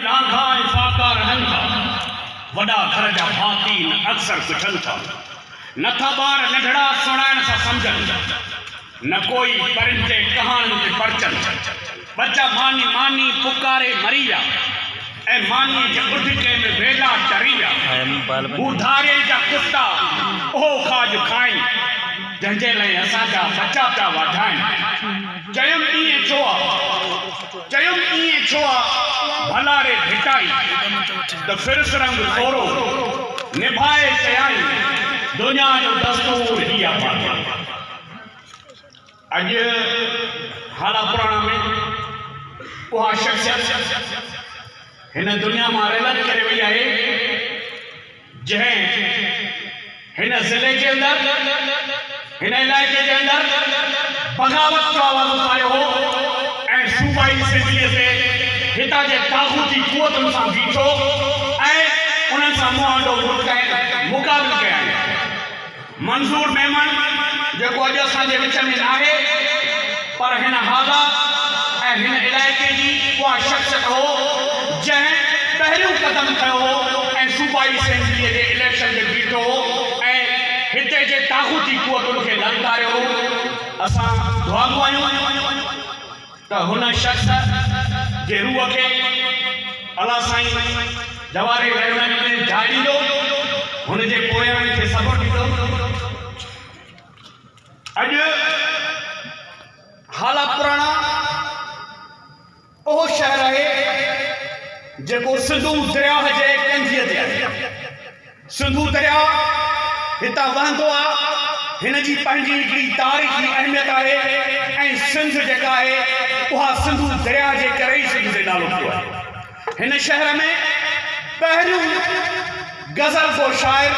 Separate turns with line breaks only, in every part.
لاکا ۽ فاڪا رهن ٿا. وڏا گهر جا ڀاتي نه اڪثر پڇن ٿا. نه ٿا ٻار ننڍڙا سڻائڻ سان سمجهن. نه ڪوئي پرنٽي ڪهاڻين تي پرچن. ٻچا ماني ماني پڪاري مري ويا. ۽ مانيء جي اڍڪي ۾ ويلا چري ويا. هو ڌارين جا ڪتا اهو کاڄ کائين. جنهن جي لئي اسان جا ٻچا پيا واڍائين. چيم ائين ڇو آ؟ چيم ايئن ڇو آ ڀلا ري ڀٽائي، ته ڦرس رنگ ٿورو، نڀائي سيائي، دنيا جو دستور هي آ باقي اڄ هالا پراڻا ۾ اها شخصيت هن دنيا مان رحلت ڪري وئي آهي. جنهن هن ضلعي جي اندر هن علائقي جي اندر بغاوت جو آواز اٿاريو هو ۽ صوبائي اسيمبليء تي هتان جي طاغوتي قوتن سان بيٺو ۽ انهن سان منهن آڏو مقابل ڪيائين. منظور ميمڻ جيڪو اڄ اسان جي وچ ۾ ناهي پر هن حالا ۽ هن علائقي جي اها شخصيت هو جنهن پهريون قدم کنيو هو ۽ صوبائي اسيمبليء جي اليڪشن تي بيٺو هو ۽ هتي جي طاغوتي قوتن کي للڪاريو هو. اسان دعاگو آهيون. ته هن شخص جي روح کي الله سائين جواري رحمت ۾ جاء ڏيندو، هن جي پويائن کي صبر ڏيندو. اڄ هالا پراڻا اهو شهر آهي جيڪو سنڌو درياهه جي ڪنڌيء تي آهي. سنڌو درياء هتان وهندو آ، هن جي پنهنجي هڪڙي تاريخي اهميت آهي ۽ سنڌ جيڪا آهي اها سنڌو درياء جي ڪري ئي سنڌ جي نالو ٿيو آهي. هن شهر ۾ پهريون غزل گو شاعر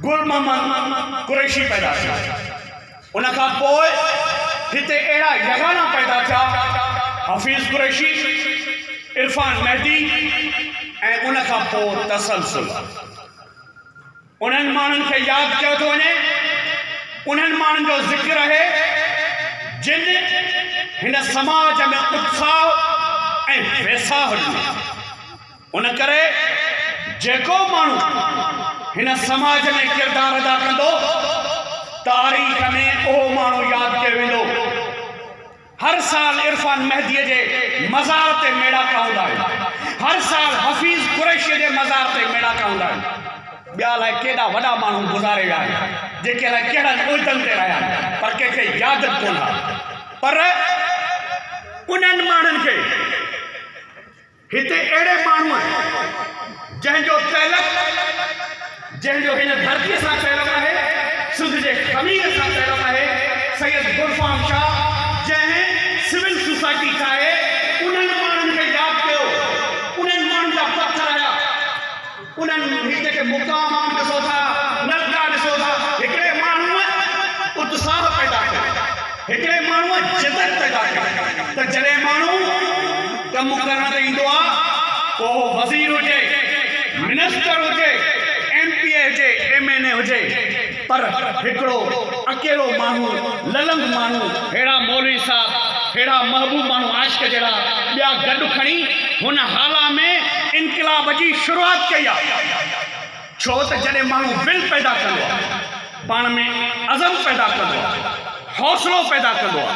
گل محمد قريشي پيدا ٿيو. ان کان پوء هتي اهڙا يگانا پيدا ٿيا حفيظ قريشي، عرفان مهدي ۽ ان کان پوء تسلسل انهن ماڻهن کي ياد ڪيو ٿو وڃي، انهن ماڻهن جو ذڪر اهي جن هن سماج ۾ اتساهه ۽ ويساهه ڏنو. ان ڪري جيڪو ماڻهو هن سماج ۾ ڪردار ادا ڪندو، تاريخ ۾ اهو ماڻهو ياد ڪيو ويندو. هر سال عرفان مهديء جي مزار تي ميڙاڪا هوندا آهن. هر سال حفيظ قريشيء جي مزار تي ميڙاڪا هوندا آهن. ٻيا الائي ڪيڏا وڏا ماڻهو گذاري ويا آهن، جيڪي الائي ڪهڙن عهدن تي رهيا آهن، پر ڪنهن کي ياد به ڪونه آهي. پر انهن ماڻهن کي. هتي اهڙي ماڻهوء جنهن جو تعلق جنهن جو هن ڌرتيء سان تعلق آهي، سنڌ جي خمير سان تعلق آهي، سيد گلفام شاهه جنهن سول سوسائٽي ٺاهي، انهن ماڻهن کي ياد ڪيو، انهن ماڻهن جا پٿر هيا. انهن هتي جي مقامات ڏسو ٿا، نقطا ڏسو ٿا، هڪڙي ماڻهوء اتساهه پيدا ڪيو، هڪڙي ماڻهوء جدت پيدا ڪئي ته جڏهن ماڻهو ڪم ڪرڻ تي ايندو آ، پوء اهو وزير هجي، منسٽر هجي، ايم پي اي هجي، ايم اين اي هجي. پر هڪڙو اڪيلو ماڻهو للنگ ماڻهو ههڙا مولوي صاحب ههڙا محبوب ماڻهو عاشق جهڙا ٻيا گڏ کڻي هن هالا ۾ انقلاب جي شروعات ڪئي آ ڇو ته جڏهن ماڻهو ول پيدا ڪندو آ پاڻ ۾ عزم پيدا ڪندو آ حوصلو پيدا ڪندو آ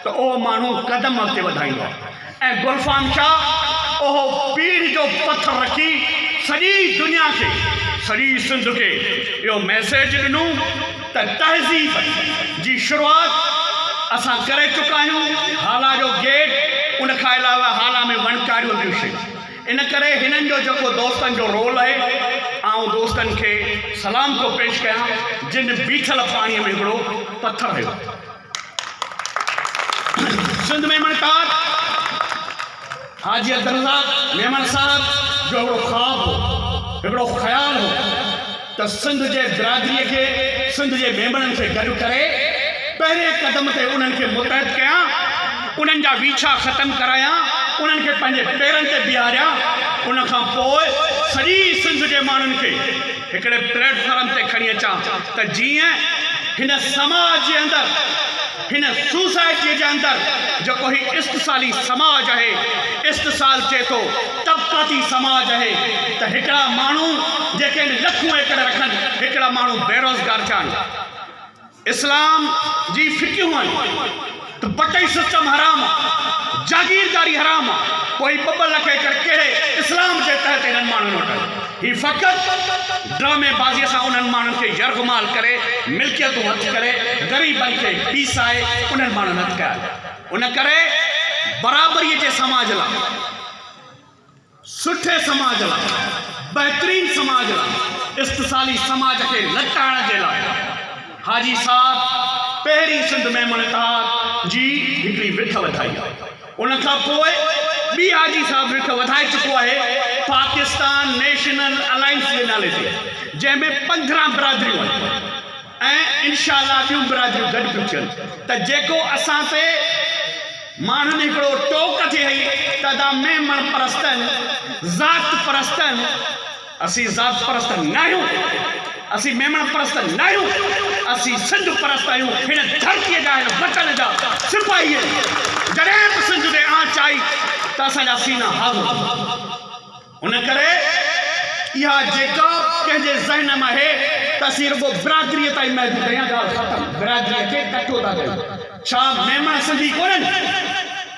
ته اهو ماڻهو قدم اڳتي وڌائيندو آ ۽ گلفام شاهه اهو پيڙهه جو پٿر رکي سڄي دنيا کي سڄي سنڌ کي اهو ميسيج ڏنو ته تهذيب جي شروعات اسان ڪري چڪا آهيون هالا جو گيٽ ان کان علاوه هالا ۾ وڻڪاريون ٻيون شيون ان ڪري هنن جو جيڪو دوستن جو رول آهي آئون دوستن کي سلام ٿو پيش ڪيان جن بيٺل پاڻي ۾ هڪڙو پٿر هيو سنڌ ميمڻ ڪار حاجي عبدالرزاق ميمڻ صاحب جو هڪڙو خواب هو، هڪڙو خيال هو ته سنڌ جي برادريء کي، سنڌ جي ميمڻن کي گڏ ڪري، پهرئين قدم تي انهن کي متحد ڪيان، انهن جا ويڇا ختم ڪرايان، انهن کي پنهنجي پيرن تي بيهاريان، ان کان پوء سڄي سنڌ جي ماڻهن کي. هڪڙي پليٽ فارم تي کڻي اچان ته جيئن هن سماج جي اندر هن سوسائٽيء جي اندر جيڪو هي استحصالي سماج آهي، استحصال چئي ٿو طبقاتي سماج آهي ته هڪڙا ماڻهو جيڪي آهن لکون ايڪڙ رکن هڪڙا ماڻهو بيروزگار ٿيا آهن. اسلام جي فقهيون آهن ته بٽئي سسٽم حرام آ، جاگيرداري حرام آ، پوء هي ٻه ٻه لک ايڪڙ ڪهڙي اسلام جي تحت انهن ماڻهن وٽ آهن؟ هي فقط ڊرامي بازيء سان انهن ماڻهن کي يرغمال ڪري، ملڪيتون هٿ ڪري، غريبن کي پيسائي انهن ماڻهن هٿ ڪيا آهن. ان ڪري برابريء جي سماج لا. سٺي سماج لاء، بهترين سماج لاء، استثالي سماج کي لٽائڻ جي لاء حاجي صاحب پهرين سنڌ ميمڻ اتحاد جي هڪڙي وٺ وڌائي. ان کان پوء ٻي حاجي صاحب وٺ وڌائي چڪو آهي پاڪستان نيشنل الائنس جي نالي تي جنهن ۾ پندرهن برادريون آهن ۽ انشاء الله ٻيون برادريون گڏ ٿيون ٿين ته جيڪو اسان تي ماڻهن هڪڙو ٽوڪ ٿي هئي ته ادا ميمڻ پرستن، ذات پرستن، اسين ذات پرست ناهيون، اسين ميمڻ پرست ناهيون، اسين سنڌ پرست آهيون، هن ڌرتيء جا، هن وطن جا سپاهي آهيون، جڏهن به سنڌ تي آنچ آئي ته اسان جا سينا حاضر ٿيندا. ان ڪري اها جيڪا به ڪنهن جي ذهن م آهي ته اسين رڳو برادريء تائين محدود آهيان ڳالهه ختم برادريء کي ڪٺو ٿا ڪيون ڇا ميمڻ سنڌي ڪونهن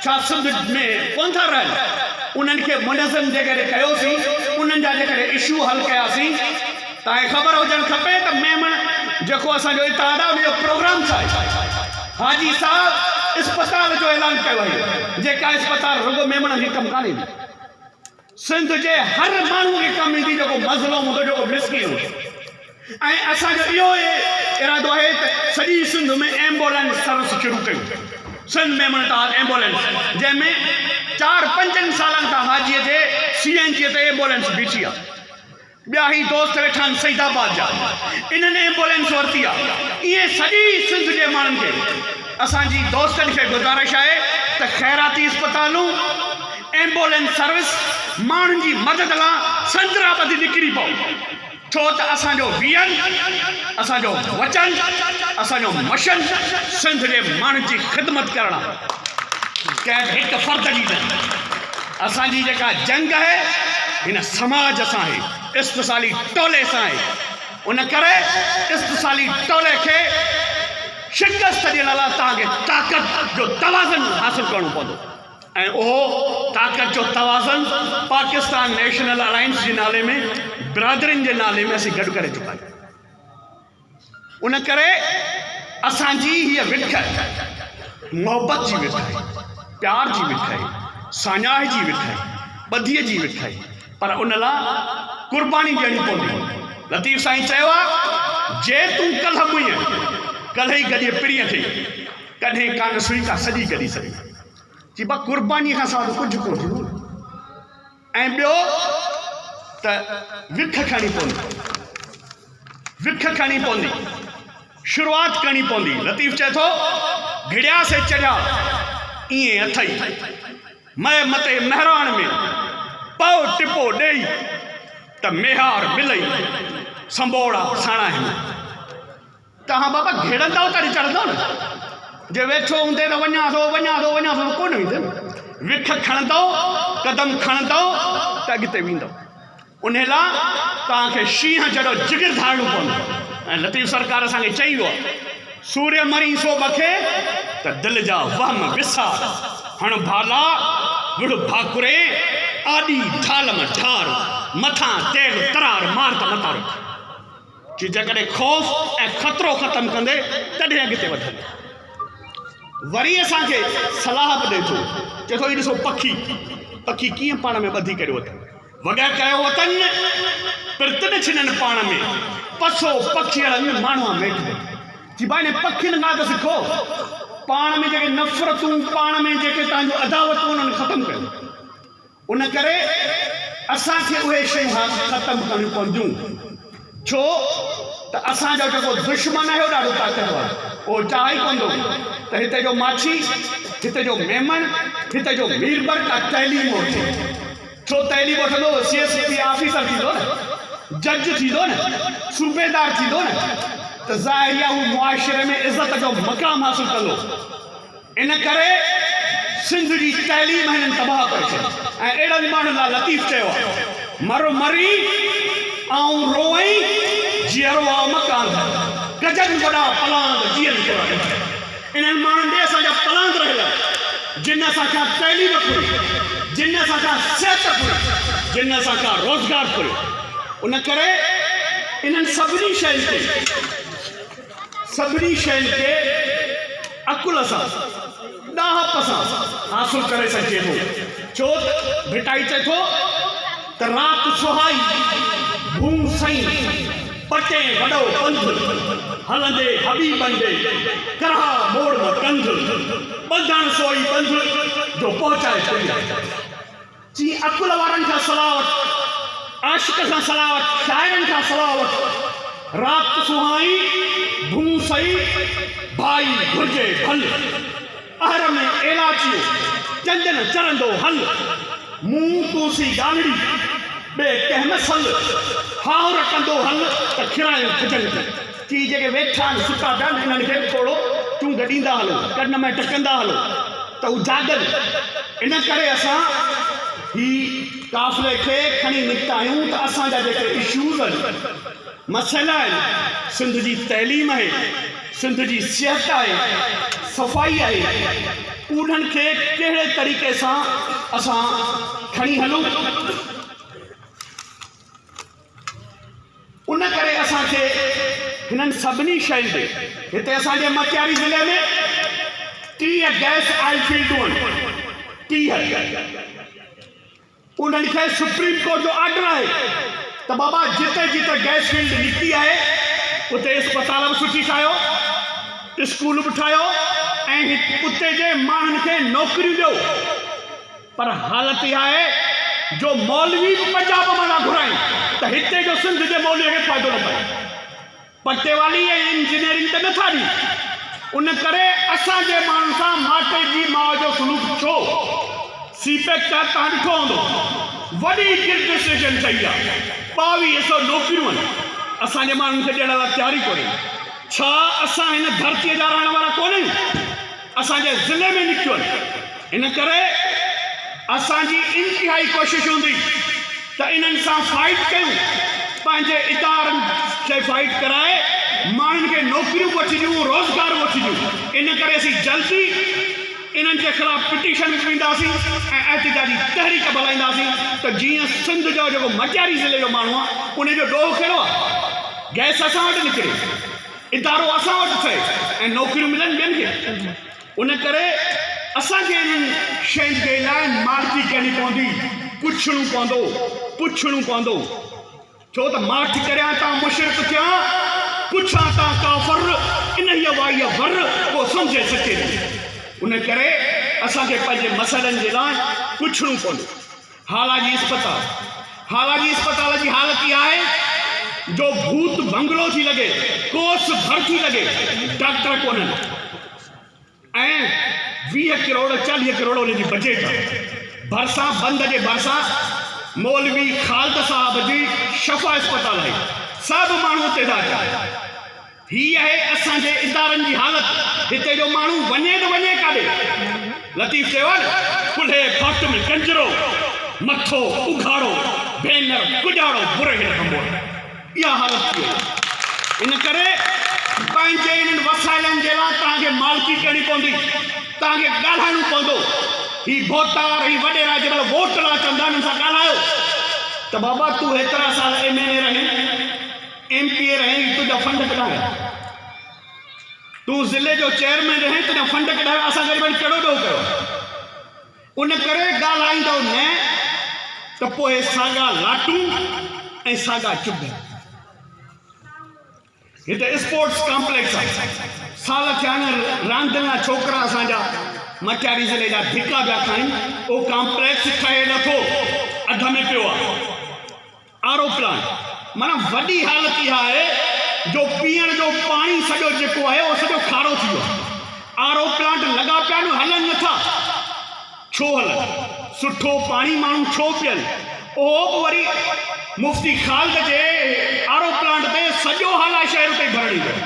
ڇا سنڌ ۾ ڪون ٿا رهن انهن کي منظم جيڪڏهن ڪيوسين انهن جا جيڪڏهن اشو حل ڪياسين تانکي خبر هجڻ کپي ته ميمڻ جيڪو اسان جو اتحاد آهي ان جو پروگرام ڇا آهي حاجي صاحب اسپتال جو اعلان ڪيو آهي جيڪا اسپتال رڳو ميمڻن کي ڪم ڪانه ايندي سنڌ جي هر ماڻهو کي ڪم ايندي جيڪو مظلوم هوندو جيڪو مسڪين هوندو ۽ اسان جو اهو ئي ارادو آهي ته سڄي سنڌ ۾ ايمبولينس سروس شروع ڪيون سنڌ ميمڻ ٽار ايمبولينس جنهن ۾ چار پنجن سالن کان حاجي جي سي اين جي تي ايمبولينس بيٺي آهي ٻيا هي دوست ويٺا آهن سعيد آباد جا انهن ايمبولينس ورتي آهي ائين سڄي سنڌ جي ماڻهن کي اسان جي دوستن کي گذارش آهي ته خيراتي اسپتالون ايمبولينس سروس ماڻهن جي مدد لا سنترا ٻڌي نڪري پئو ڇو ته اسان جو ويئن اسان جو وچن اسان جو مشن سنڌ جي ماڻهن جي خدمت ڪرڻ ڪنهن هڪ فرد جي نه اسان جي جيڪا جنگ آهي هن سماج سان آهي استحصالي ٽولي سان آهي ان ڪري استحصالي ٽولي کي شڪست ڏيڻ لاء توهان کي طاقت جو توازن حاصل ڪرڻو پوندو ۽ اهو طاقت جو توازن پاڪستان نيشنل الائنس جي نالي ۾ برادرين جي نالي ۾ اسين گڏ ڪري چڪا آهيون ان ڪري اسان جي هيء وٺ محبت جي وٺ آهي، پيار جي وٺ آهي، ساڃاهه جي وٺ آهي، ٻڌيء جي وٺ آهي، پر ان لا قرباني ڏيڻي پوندي. لطيف سائين چيو آ، جي تون ڪلهه مئين، ڪلهه ئي گڏيء پرينء کي، ڪڏهن ڪانه سهي ڪا سڄي گڏي سگهين. چئبو آ، قربانيء کان سواء ته ڪجهه ڪونه ٿيندو. ۽ ٻيو ته وک کڻي پوندي، وک کڻي پوندي، شروعات ڪرڻي پوندي. لطيف چئي ٿو، گهڙيا سي چڙهيا، ائين اٿئي، مئي متي مهراڻ ۾، پئو ٽپو ڏيئي، ته ميهار ملئي، سنبوڙا ساڻاهين. تهان بابا گهڙندؤ ته اڏ چڙهندؤ نه، جي ويٺو هوندين ته وڃان ٿو وڃان ٿو وڃان ٿو ته ڪونه ويندين، وک کڻندؤ، قدم کڻندؤ ته اڳتي ويندؤ، انهي لاء توهان کي شينهن جهڙو جگر ڌارڻو پوندو ۽ لطيف سرڪار اسان کي چئي ويو آهي، سوريء مرين سو ٻکي ته دل جا وهم وسار، هڻ ڀالا، وڙهه ڀاڪرين، آڏي ڍالم ڍار، مٿان تيل ترار مار ته متارو ٿي. جي جيڪڏهن خوف ۽ خطرو ختم ڪندي تڏهن اڳتي وڌندي. وري اسان کي صلاح به ڏئي ٿو. چئي ٿو هي ڏسو پکي پکي ڪيئن پاڻ ۾ ٻڌي ڪريو اٿن. وڳهه ڪيو اٿن پرتن ڇنن پاڻ ۾. پسو پکيئڙن ماڻهوان ميٺ ٻڌي. جي ڀاء انهن پکين کان ته سکو. پاڻ ۾ جيڪي نفرتون پاڻ ۾ جيڪي تنهنجون عداوتون انهن ختم ڪيو. ان ڪري اسان کي اهي شيون هاڻ ختم ڪرڻيون پونديون ڇو ته اسان جو جيڪو دشمن آهي اهو ڏاڍو طاقتور آهي اهو چاهي ئي ڪوندو ته هتي جو ماڇي هتي جو ميمڻ هتي جو مير بر ڪا تعليم وٺي ڇو تعليم وٺندو ته سي ايس پي آفيسر ٿيندو نه جج ٿيندو نه صوبيدار ٿيندو نه ته ظاهري آهي اهو معاشري ۾ عزت جو مقام حاصل ڪندو ان ڪري سنڌ جي تعليم هنن تباهه ڪري ڇڏي ۽ اهڙن ماڻهن لاء لطيف چيو آهي مر مري آئون روئين جيئرو آ مڪانڌ گجن وڏا پلاند جيئن ٿورا ڏٺئي انهن ماڻهن ڏي اسان جا پلاند رهيل آهن جن اسان کان تعليم ڦري جن اسان کان صحت ڦري جن اسان کان روزگار ڦريو ان ڪري انهن سڀني شين تي سڀني شين کي عقل سان، ڏاهپ سان حاصل ڪري سگهجي ٿو، ڇو ته ڀٽائي چئي ٿو ته رات سهائي ڀون سئين، پٽين وڏو پنڌ، هلندي حبيبن ڏي، ڪرها موڙ نه ڪنڌ، ٻڌڻ سوئي ٻنڌ، جو پهچائي پرينء. چي عقل وارن کان صلاح وٺ، عاشق سان صلاح وٺ، شاعرن کان صلاح وٺ، رات سهائي، ڀونء سئي، ڀائي گهرجي ڀل، اهر ۾ ايلاچيو، چنج نه چرندو هل، مون تون سين ڳالهڙي، ٻئي ڪنهن نه سل، هاهر ڪندو هل ته کيرائين کجن کي. ٿي جيڪي ويٺا آهن ستا پيا انهن کي به ٿورو چونگ ڏيندا هلو ڪن ۾ ٽڪندا هلو ته هو جاڳن ان ڪري اسان هي قافلي کي کڻي نڪتا آهيون ته اسان جا جيڪي اشوز آهن مسئلا آهن سنڌ جي تعليم آهي سنڌ جي صحت آهي صفائي آهي انهن کي ڪهڙي طريقي سان اسان کڻي هلون ان ڪري اسان کي هنن سڀني شين تي هتي اسان جي مٽياري ضلعي ۾ ٽيهه گئس آئل فيلڊون آهن ٽيهه انهن کي سپريم ڪورٽ جو آرڊر آهي ته بابا جتي جتي گئس فيلڊ نڪتي آهي اتي اسپتال به سٺي ٺاهيو اسڪول به ٺاهيو ۽ اتي جي ماڻهن کي نوڪريون ڏيو پر حالت اها آهي جو مولوي به پنجاب مان ٿا گهرائين ته هتي جو سنڌ جي مولوي کي فائدو نه پئي. پٽيوالي ۽ انجنيئرنگ ته نه ٿا ڏين. ان ڪري اسان جي ماڻهن سان ماٽي جي ماء جو سلوڪ ڇو؟ سي پيڪ تحت توهان ڏٺو هوندو وڏي گردسيشن ٿئي آ ٻاويهه سو نوڪريون آهن اسان جي ماڻهن کي ڏيڻ لاء تيار ئي ڪونهين. ڇا اسان هن ڌرتي جا رهڻ وارا ڪونهيون؟ اسان جي ضلعي ۾ نڪتيون ان ڪري اسان جي انتهائي ڪوشش هوندي ته انهن سان فائيٽ ڪيون پنهنجي ادارن کي فائيٽ ڪرائي ماڻهن کي نوڪريون به وٺي ڏيون روزگار به وٺي ڏيون ان ڪري اسين جلدي انهن جي خلاف پٽيشن به وينداسين ۽ احتجاجي تحريڪ به هلائينداسين ته جيئن سنڌ جو جيڪو مٽياري ضلعي جو ماڻهو آهي ان جو ڏوهه ڪهڙو آهي گئس اسان وٽ نڪري ادارو اسان وٽ ٿئي ۽ نوڪريون ملن ٻين کي ان ڪري اسان کي انهن شين جي لاء ماٺڪي ڪرڻي پوندي پڇڻو پوندو پڇڻو پوندو ڇو ته ماٺ ڪريان تان مشرڪ ٿيان پڇان تان ڪافر انهي وائي ور ڪو سمجهي سچي ٿي ان ڪري اسان کي پنهنجي مسئلن جي لاء پڇڻو پوندو هالاجي اسپتال، هالاجي اسپتال جي حالت اها آهي جو ڀوت بنگلو ٿي لڳي، ڪوس ڀر ٿي لڳي، ڊاڪٽر ڪونهن ۽ ويهه ڪروڙ چاليهه ڪروڙ ان جي بجيٽ آهي، ڀرسان بند جي ڀرسان مولوي خالد صاحب جي شفا اسپتال آهي، سڀ ماڻهو اتي ٿا اچن. هي آهي اسان جي ادارن جي حالت هتي جو ماڻهو وڃي ته وڃي ڪاڏي لطيف چيو آهي نه ڪلهي ڀٽ ۾ ڪنجرو مٿو اگهاڙو ڀينر ڪڄاڙو برهيل ڀنڀور اها حالت ٿي وئي آهي ان ڪري پنهنجي انهن وسائلن جي لاء توهان کي مالڪي ڪرڻي پوندي توهان کي ڳالهائڻو پوندو هي ڀوٽار هي وڏيرا جي مهل ووٽ لاء چوندا انهن سان ڳالهايو ته بابا تون هيترا سال ايم اين اي رهين ايم پي اي رهين تنهنجا فنڊ ڪڏايا تون ضلعي جو چيئرمين رهين تنهنجا فنڊ ڪڏايا اسان غريبن ڪهڙو ڏوهه ڪيو ان ڪري ڳالهائيندو نه ته پوء ساڳا لاٽون ۽ ساڳا چب هتي اسپورٽس ڪامپليڪس آهي سال ٿيا آهن راندين لاء ڇوڪرا اسان جا مٽياري ضلعي جا ڌڪا پيا کائن اهو ڪامپليڪس ٺهي نٿو اڌ ۾ پيو آهي آروپلان معنيٰ وڏي حالت اها آهي جو پيئڻ جو پاڻي سڄو جيڪو آهي اهو سڄو کارو ٿي ويو آهي آروپلانٽ لڳا پيا آهن هلن نٿا ڇو هلن سٺو پاڻي ماڻهو ڇو پيئن اهو به وري مفتي خالد جي آروپلانٽ تي سڄو هالا شهر تي ڀرڻي ويو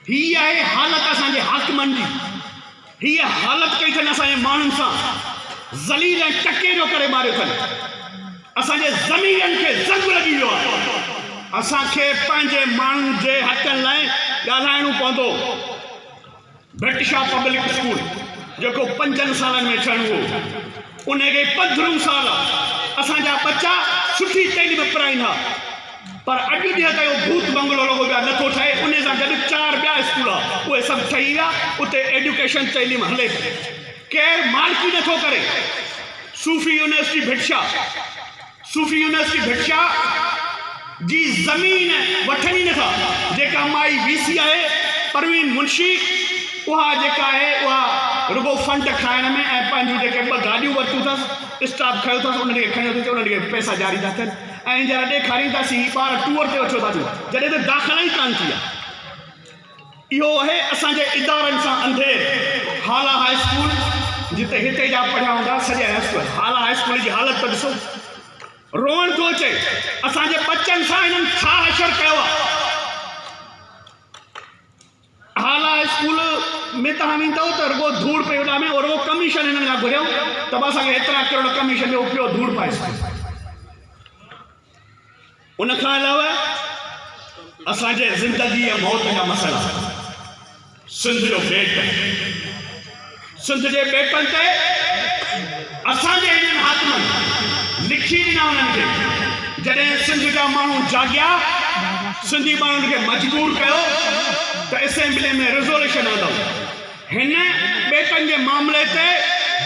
هي آهي حالت اسان جي حاڪمن جي، هيء حالت ڪئي ٿن اسان جي ماڻهن سان، ذليل ۽ ٽڪي جو ڪري ماريو ٿن، اسان جي ضميرن کي زنگ لڳي ويو آهي، اسان کي پنهنجي ماڻهن جي حقن لاء ڳالهائڻو پوندو، ڀٽ شاهه پبلڪ اسڪول جيڪو پنجن سالن ۾ ٺهڻو هو، انهي کي پنڌرهون سال آ، اسان جا ٻچا سٺي تعليم پرائين ها. پر اڄ جي ته اهو ڀوت بنگلو رڳو ٻيا نه ٿو ٺهي انهي سان گڏ چار ٻيا اسڪول اهي سڀ ٺهي ويا اتي ايڊيوڪيشن تعليم هلي پئي ڪير مالڪي نه ٿو ڪري صوفي يونيورسٽي ڀٽشا صوفي يونيورسٽي ڀٽشا جي زمين وٺن ئي نٿا جيڪا مائي وي سي آهي پروين منشي اها جيڪا آهي اها رڳو فنڊ کائڻ ۾ ۽ پنهنجون جيڪي ٻه گاڏيون ورتيون اٿس اسٽاف کيو اٿس انهن کي کڻيو اٿس انهن کي پئسا جاري ٿا ٿين اهي جهر ڏيکارينداسين هي ٻار ٽوئر تي اچيو ٿا اچن جڏهن ته داخلا ئي ڪانه ٿي آهي اهو اهي اسان جي ادارن سان انڌير هالا هاء اسڪول جتي هتي جا پڙهيا هوندا سڄي اسڪول هالا هاء اسڪول جي حالت ته ڏسو روئڻ ٿو اچي اسان جي بچن سان هنن ڇا حشر ڪيو آهي اعليٰ اسڪول ۾ توهان ويندؤ ته رڳو ڌوڙ پئي اڏامي او رڳو ڪميشن هنن کان گهريو ته به اسان کي هيترا ڪروڙ ڪميشن ڏيو پيو ڌوڙ پائي سگهي ان کان علاوه اسان جي زندگي ۽ موت جا مسئلا سنڌ جو بيٽ سنڌ جي ٻيٽن تي اسان جي هنن حاڪمن لکي ڏنا انهن کي جڏهن سنڌ جا ماڻهو جاڳيا سنڌي ماڻهن کي مجبور ڪيو ته اسيمبلي ۾ ريزوليشن آندو هن ٻيٽن جي معاملي تي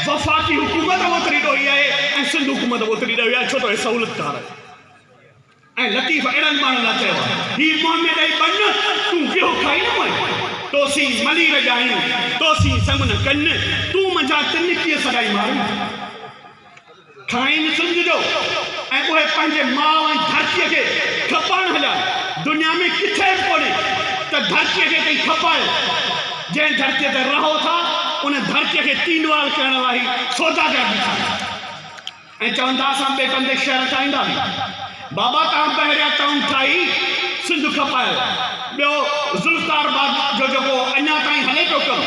وفاقي حڪومت اوتري ڏوهي آهي ۽ سنڌ حڪومت اوتري ڏوهي آهي ڇو ته هي سهولتڪار آهي ۽ لطيف اهڙن ماڻهن لاء چيو آهي. هي منهن ۾ ڏئي ٻن، تون گيهو کائي نه مئين. تو سين ملي رڄائين، تو سين سم نه ڪن، تون منجهان تن ڪيئن سڏائين مارين. کائين سنج جو، ۽ اهي پنهنجي ماء ۽ ڌرتيء کي کپائڻ هليا. دنيا ۾ ڪٿي به ڪونهي ته ڌرتيء کي ڪنهن کپايو. جنهن ڌرتيء تي رهو ٿا، ان ڌرتيء کي تينوال ڪرڻ لاء هي سوداگر بيٺا آهن. ائين چوندا اسان ٻئي بندي شعر ڳائيندا به بابا توهان پهريان ٽائون ٽائي سنڌ کپايو ٻيو ذوالفقار بگ جو جيڪو اڃا تائين هلي پيو ڪم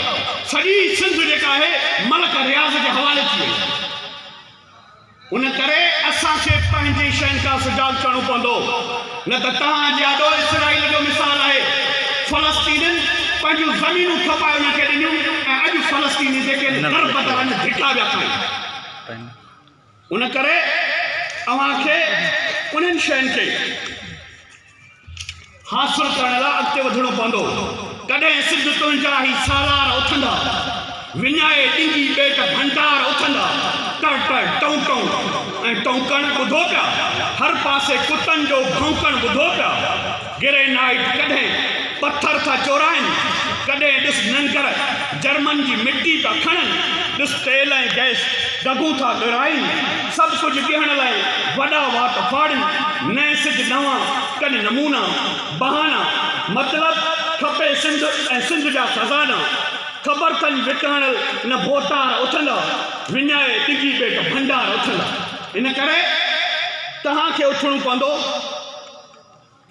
سڄي سنڌ جيڪا آهي ملڪ رياض جي حوالي ٿي وئي ان ڪري اسان کي پنهنجي شين کان سجاڳ ٿيڻو پوندو نه ته توهان جي آڏو اسرائيل جو مثال آهي فلسطينين پنهنجون زمينون کپائي انهن کي ڏنيون ۽ اڄ فلسطيني جيڪي در بدر اڃ ڌڪا ويا کائين ان ڪري اوهان کي انهن شين کي حاصل ڪرڻ لاء اڳتي وڌڻو پوندو ڪڏهن سج تنهنجا هي سالار اٿندا وڃائي ڏنگي ٻيٽ ڀنڊار اٿندا ٽر ٽر ٽون ٽون ۽ ٽونڪڻ ٻڌو پيا هر پاسي ڪتن جو ڀونڪڻ ٻڌو پيا گرينائيٽ ڪڏهن پٿر ٿا چورائين، ڪڏهن ڏس ننگر جرمن جي مٽي ٿا کڻن، ڏس تيل ۽ گئس دڳون ٿا ڳرائين، سڀ ڪجهه ڏيڻ لاء وڏا وات ڦاڙين، نئين سج نوان ڪن نمونا، بهانا، مطلب کپي سنڌ ۽ سنڌ جا خزانا، خبر ٿن وڪاڻل نه ڀوتار اٿندا، وڃائي ڊگهي ٻيٽ ڀنڊار اٿندا. ان ڪري توهان کي اٿڻو پوندو.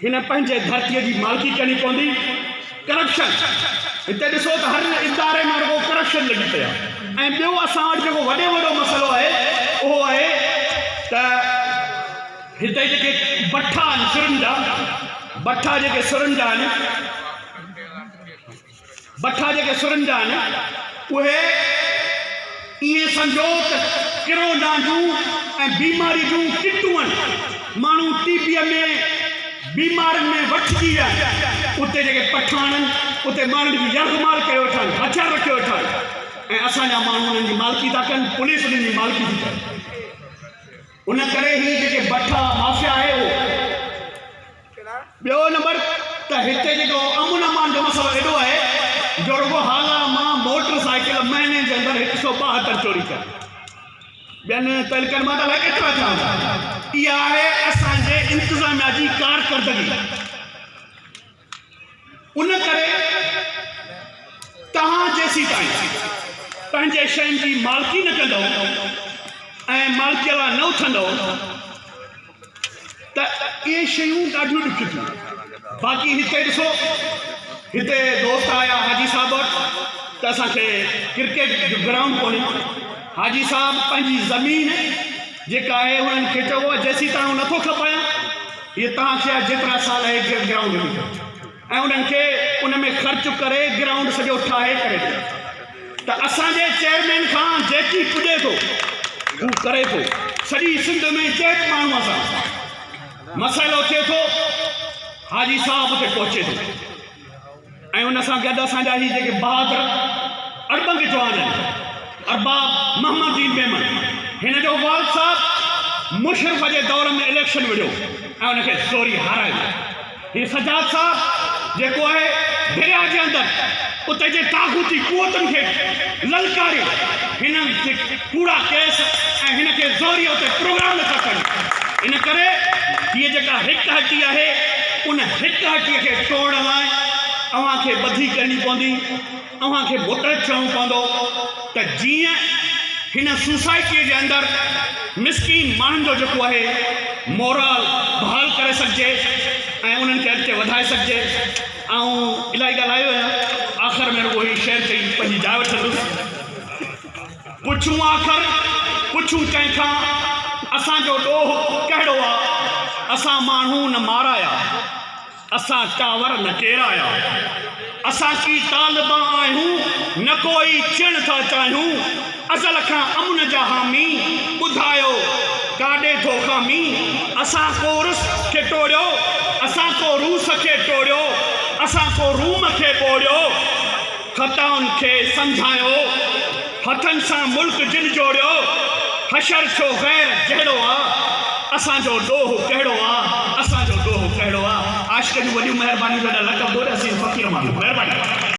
هن پنهنجي ڌرتي جي مالڪي ڪرڻي پوندي ڪرپشن هتي ڏسو ته هر اداري ۾ رڳو ڪرپشن لڳي پئي آهي ۽ ٻيو اسان وٽ جيڪو وڏي وڏو مسئلو آهي اهو آهي ته هتي جيڪي بٺا آهن سرن جا بٺا جيڪي سرن جا آهن بٺا جيڪي سرن جا آهن، اهي ائين سمجهو ته ڪرونا جون ۽ بيماري جون ڪٽون آهن. ماڻهو ٽي بيء ۾ بيمارين ۾ وٺجي ويا آهن. اتي جيڪي بٺا آڻن، اتي ماڻهن جي يرغمال ڪيو ويٺا آهن، هٿيار رکيو ويٺا آهن ۽ اسان جا ماڻهو انهن جي مالڪي ٿا ڪن، پوليس انهن جي مالڪي ٿي ڪري. ان ڪري هي جيڪي بٺا مافيا آهي اهو ٻيو نمبر ته هتي جيڪو امن امان جو مسئلو ايڏو آهي جو رڳو هالا مان موٽر سائيڪل مهيني جي اندر هڪ سو ٻاهتر چوري ڪري ٻين تعلقن مان ته الائي ڪيترا ٿيا هوندا اها آهي اسان جي انتظاميا جي ڪارڪردگي ان ڪري توهان جيسيتائين پنهنجي شين جي مالڪي نه ڪندو ۽ مالڪيء لاء نه اٿندو ته اهي شيون ڏاڍيون ڏکيون ٿيون باقي هتي ڏسو هتي دوست آيا حاجي صاحب وٽ ته اسان کي ڪرڪيٽ جو گرائونڊ ڪونهي حاجي صاحب پنهنجي زمين جيڪا آهي انهن کي چئبو آهي جيسيتائين نٿو کپايان هي توهان کي آء جيترا سال اهي گرد گرائونڊ ڏني اٿم ۽ انهن کي ان ۾ خرچ ڪري گرائونڊ سڄو ٺاهي ڪري ڏيان ٿا ته اسان جي چيئرمين کان جيڪي پڄي ٿو هو ڪري ٿو سڄي سنڌ ۾ جنهن به ماڻهوء سان مسئلو ٿئي ٿو حاجي صاحب اتي پهچي ٿو ۽ ان سان گڏ اسان جا هي جيڪي بهادر اڙٻنگ جوان آهن ارباب محمد دين ميمڻ هن جو والد صاحب مشرف جي دور ۾ اليڪشن وڙهيو ۽ ان کي زوري هارايو هي سجاد صاحب جيڪو آهي دريا جي اندر اتي جي طاغوتي قوتن کي للڪاري هنن ڪوڙا ڪيس ۽ هن کي زهريو تي پروگرام نه ٿا ڪن ان ڪري هيء جيڪا هڪ هٽي آهي ان هڪ هٽي کي ٽوڙڻ لاء اوهان کي ٻڌي ڪرڻي پوندي اوهان کي متحد ٿيڻو پوندو ته جيئن هن سوسائٽيء جي اندر مسڪين ماڻهن جو جيڪو آهي مورال بحال ڪري سگهجي ۽ انهن کي اڳتي وڌائي سگهجي آئون الاهي ڳالهايو آهيان آخر ۾ رڳو هي شعر چئي پنهنجي جاء وٺندس. پڇون آخر پڇون ڪنهن کان، اسان جو ڏوهه ڪهڙو آ؟ اسان ماڻهو نه مارايا، اسان ٽاور نه ڪيرايا، اسان ڪي طالبا آهيون، نه ڪو ئي چيڻ ٿا چاهيون، ازل کان امن جا حامي، ٻڌايو ڪاڏي ٿو خامي؟ اسان ڪو رس کي ٽوڙيو، اسان ڪو روس کي ٽوڙيو، اسان ڪو روم کي ٻوڙيو. خطائن کي سمجهايو، هٿن سان ملڪ جن جوڙيو، حشر ڇو غير جهڙو آ، اسان جو ڏوهه ڪهڙو آ، اسان جو ڏوهه ڪهڙو آ. عاشق جون وڏيون مهربانيون جو ايڏا لک ٻوڏ حسين فقير ماڻهو مهرباني.